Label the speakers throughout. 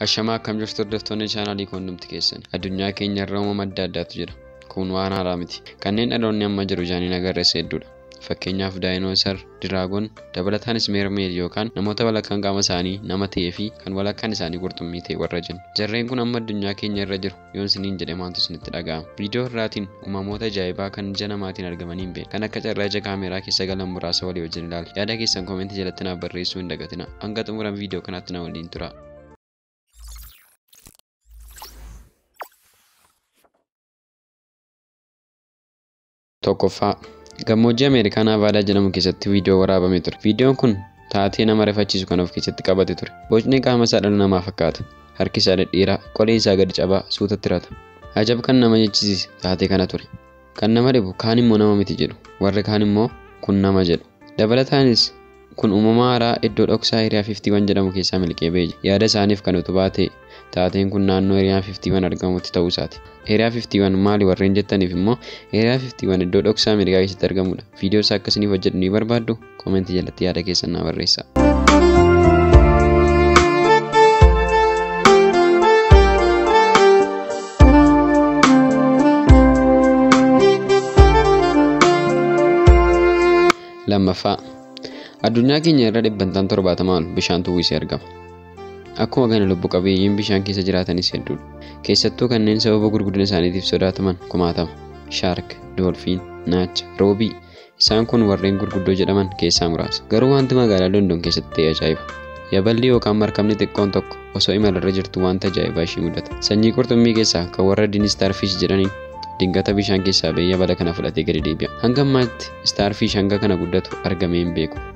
Speaker 1: Ashamaa akkam jirtu hordoftoonni chaanaalii koondumti keessan addunyaa keenya irra uumama adda addaatu jira. Kun waan haaraa miti. Kanneen dhaloonni amma jiru jaaniin agarreessa hedduudha. Fakkeenyaaf daayinoosar, diraagon, dabalataanis meermeed yookaan namoota walakkaan qaama isaanii nama ta'ee fi kan walakkaan isaanii qurxummii ta'e warra jennu. Jarreen kun amma addunyaa keenya irra jiru. yoon siniin jedhe maaltu isinitti dhaga'ama viidiyoo irraatiin uumamoota ajaa'ibaa kan ija namaatiin argamanii hin beekne kan akka carraa ija kaameeraa keessa galan muraasa walii wajjin ilaala yaada keessan koomentii jalatti naaf barreessuu hin dagatina hanga xumuran viidiyoo kanaatti na waliin tura Tokkoffaa, gammoojjii Ameerikaa Naavaadaa jedhamu keessatti viidiyoo waraabame ture. Viidiyoon kun taatee nama rifachiisu kan of keessatti qabate ture. Bocni qaama isaa dhala namaa fakkaata. Harki isaa dhedheeraa, qoleen isaa gadi cabaa, suutatti rata. Ajab kan nama jechisiise taatee kana ture. Kan nama dhibu kaan immoo nama miti jedhu, warri kaan immoo kun nama jedhu. Dabalataanis, kun uumama haaraa iddoo dhoksaa Area 51 jedhamu keessaa miliqee ba'e jedha. Yaada isaaniif kan utubaa ta'e, taateen kun naannoo Area 51 argamutti ta'uu isaati. Area 51 maali warreen jettaniif immoo, Area 51 iddoo dhoksaa Ameerikaa keessatti argamudha. Viidiyoo isaa akka isiniif hojjedhu ni barbaaddu? Koomentii jalatti yaada keessan naa barreessaa. lammaffaa addunyaa keenya irra dhibbantaan torbaatamaa ol bishaantu uwwisee argama akkuma kana lubbu qabeeyyiin bishaan keessa jiraatanis hedduudha keessattuu kanneen sababa gurguddina isaaniitiif sodaataman kumaatama shaark doolfiin naacha roobii Isaan kun warreen gurguddoo jedhaman keessaa muraasa. Garuu wanti magaalaa London keessatti ta'e ajaa'iba. Yaballi yookaan markabni xiqqoon tokko osoo imalarra jirtu wanta ajaa'ibaa ishii mudata. Sanyii qurxummii keessaa kan warra diin Starfish jedhaniin dingata bishaan keessaa ba'ee yabala kana fudhatee gadi deebi'a. Hanga ammaatti Starfish hanga kana guddatu argamee hin beeku.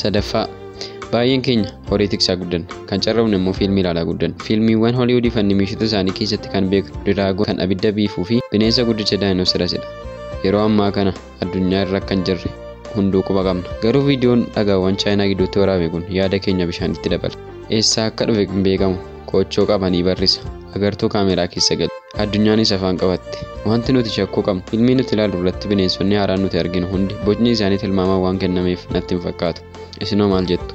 Speaker 1: sadaffaa baay'een keenya horii tiksaa guddanna kan carroomne immoo fiilmii ilaalaa guddanna fiilmiiwwan holiwudii fi animeeshota isaanii keessatti kan beeknu diraagoo kan abidda biifuu fi bineensa guddicha daayinoosirasidha yeroo ammaa kana addunyaa irra akka hin jirre hunduu quba qabna. Garuu viidiyoon dhagaawwan Chaayinaa gidduutti waraabame kun yaada keenya bishaanitti dabala. Eessaa akka dhufe hin beekamu. Koochoo qabanii barrisa. Agartuu kaameeraa keessa galu. Addunyaanis afaan qabatte. Wanti nuti shakkuu qabnu filmii nuti ilaallu irratti bineensonni haaraan nuti arginu hundi bocni isaanii tilmaamaan waan kennameef natti hin fakkaatu. Isinoo maal jettu?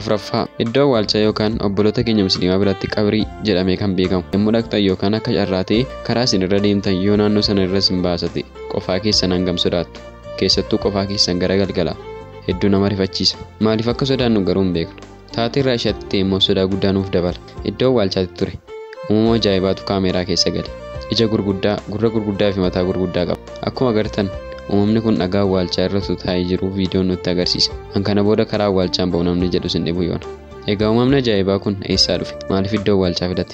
Speaker 1: afraffaa iddoo awwaalchaa yookaan obboloota keenya musliimaa biratti qabrii jedhamee kan beekamu yommuu dhaqxan yookaan akka carraa ta'e karaa isin irra deemtan yoo naannoo sana irra isin baasate qofaa keessan hangam sodaattu keessattuu qofaa keessan gara galgala hedduu nama rifachiisa maaliif akka sodaannu garuu hin beeknu Taatee Raashiyaatti ta'e immoo sodaa guddaa nuuf dabala. Iddoo awwaalchaatti ture. Uumama ajaa'ibaatu kaameeraa keessa gale. Ija gurguddaa, gurra gurguddaa fi mataa gurguddaa qaba. Akkuma agartan uumamni kun dhagaa awwaalchaa irra utuu taa'ee jiruu viidiyoon nutti agarsiise. An kana booda karaa awwaalchaan ba'u namni jedhus hin dhibu yoona. Egaa uumamni ajaa'ibaa kun eessaa dhufe? Maaliif iddoo awwaalchaa filate?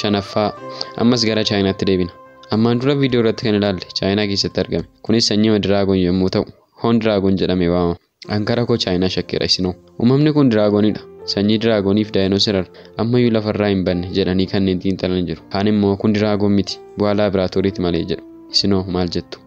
Speaker 1: shanaffaa ammas gara chaayinaatti deebina ammaan dura viidiyoo irratti kan ilaalle chaayinaa keessatti argame kunis sanyii diraagon yommuu ta'u hoon diraagon jedhame waamama An kara koo chaayinaa shakkeera isinoo. Uumamni kun diraagonidha. Sanyii diraagonii fi daayinoosirar ammayyuu lafarraa hin banne jedhanii kanneen xiinxalan jiru. Kaan immoo kun diraagon miti bu'aa laabraatooriiti malee jedhu. Isinoo maal jettu?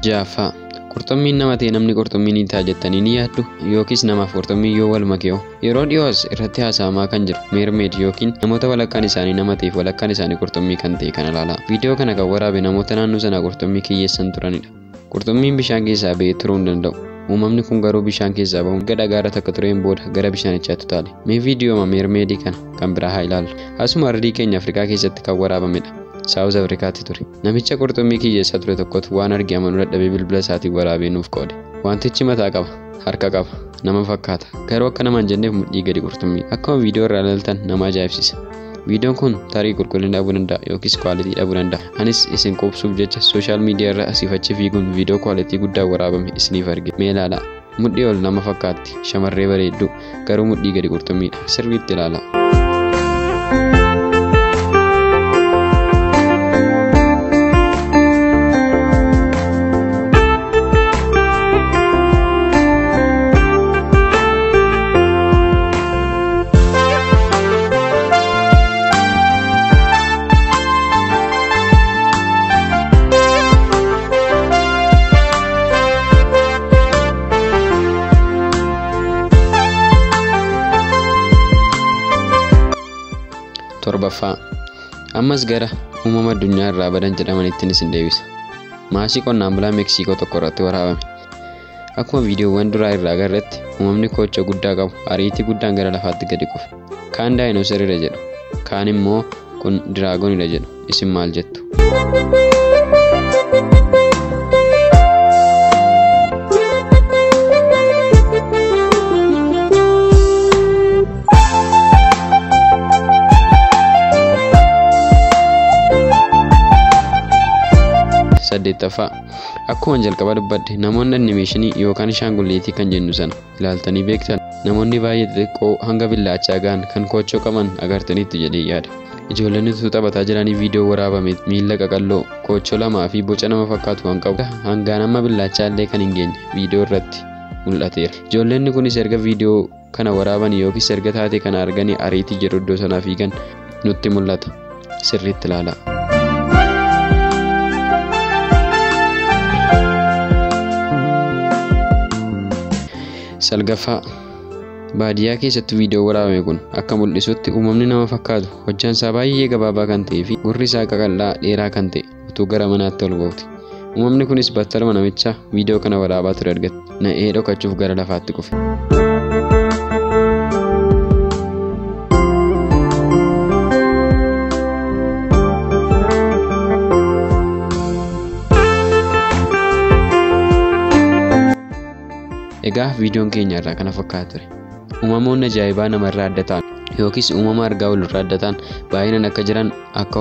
Speaker 1: Jaaffaa. Qurxummiin nama ta'e namni qurxummii ni ta'a jettanii ni yaaddu yookiis namaaf qurxummii yoo wal makee'o yeroo dhiyoos irratti haasa'amaa kan jiru meermeed yookiin namoota walakkaan isaanii nama ta'eef walakkaan isaanii qurxummii kan ta'e kana ilaala. Viidiyoo kana kan waraabe namoota naannoo sanaa qurxummii kiyyeessan turanidha. Qurxummiin bishaan keessaa ba'ee turuu hin danda'u. Uumamni kun garuu bishaan keessaa ba'uun erga dhagaarra takka tureen booda gara bishaanichaatti utaale. Mee viidiyooma meermeedii kana kan biraa haa ilaallu. Asuma ardii keenya Afrikaa keessatti kan waraabamedha. Saawuz Afrikaatti ture. Namicha qurxummii kiyyeessaa ture tokkotu waan arge amanuu dadhabee bilbila isaatiin waraabee nuuf qoode. Wantichi mataa qaba, harka qaba, nama fakkaata. Garuu akka nama hin jenneef mudhii gadi qurxummii. Akkuma viidiyoo irraa ilaaltan nama ajaa'ibsiisa. Viidiyoon kun tarii qulqullina dhabuu danda'a yookiis kwaalitii dhabuu danda'a. Anis isin quubsuuf jecha sooshaal miidiyaa irra asiif achi fiiguun viidiyoo kwaalitii guddaa waraabame isiniif arge. Mee ilaalaa. Mudhii ol nama fakkaatti. Shamarree bareedduu. Garuu mudhii gadi qurxummiidha. Sirriitti ilaalaa. torbaffaa ammas gara uumama addunyaa irraa badan jedhamanitti isin deebisa maasii qonnaan bulaa meeksiikoo tokko irratti waraabame Akkuma viidiyoowwan duraa irraa agarretti uumamni koocha guddaa qabu ariitii guddaan gara lafaatti gadi kufe. Kaan daayinoosariidha jedhu, kaan immoo kun diraagonidha jedhu. Isin maal jettu? saddeettaffaa Akkuma jalqaba dubbadhe namoonni animeeshinii yookaan shaangulleetii kan jennu sana ilaaltanii beektan namoonni baay'ee xixiqqoo hanga billaachaa ga'an kan koochoo qaban agartaniitti jedhee yaada. Ijoolleen utuu taphataa jiranii viidiyoo waraabame miila qaqalloo koochoo lamaa fi boca nama fakkaatu kan qabu hangaan amma billaachaa illee kan hin geenye viidiyoo irratti mul'ateera. Ijoolleenni kunis erga viidiyoo kana waraaban yookiis erga taatee kana arganii ariitii jedhu iddoo sanaa fiigan nutti mul'ata sirriitti ilaalaa. salgaffaa baadiyyaa keessatti viidiyoo waraabame kun akka mul'isutti uumamni nama fakkaatu hojjaan isaa baay'ee gabaabaa kan ta'ee fi gurri isaa qaqal'aa dheeraa kan ta'e utuu gara manaatti ol ba'uti. Uumamni kunis battaluma namicha viidiyoo kana waraabaa ture argate. Na'ee dhokachuuf gara lafaatti kufe. Egaa viidiyoon keenya irraa kana fakkaata ture. Uumamoonni ajaa'ibaa namarraa adda ta'an yookiis uumama argaa olirraa adda ta'an baay'inaan akka jiran akka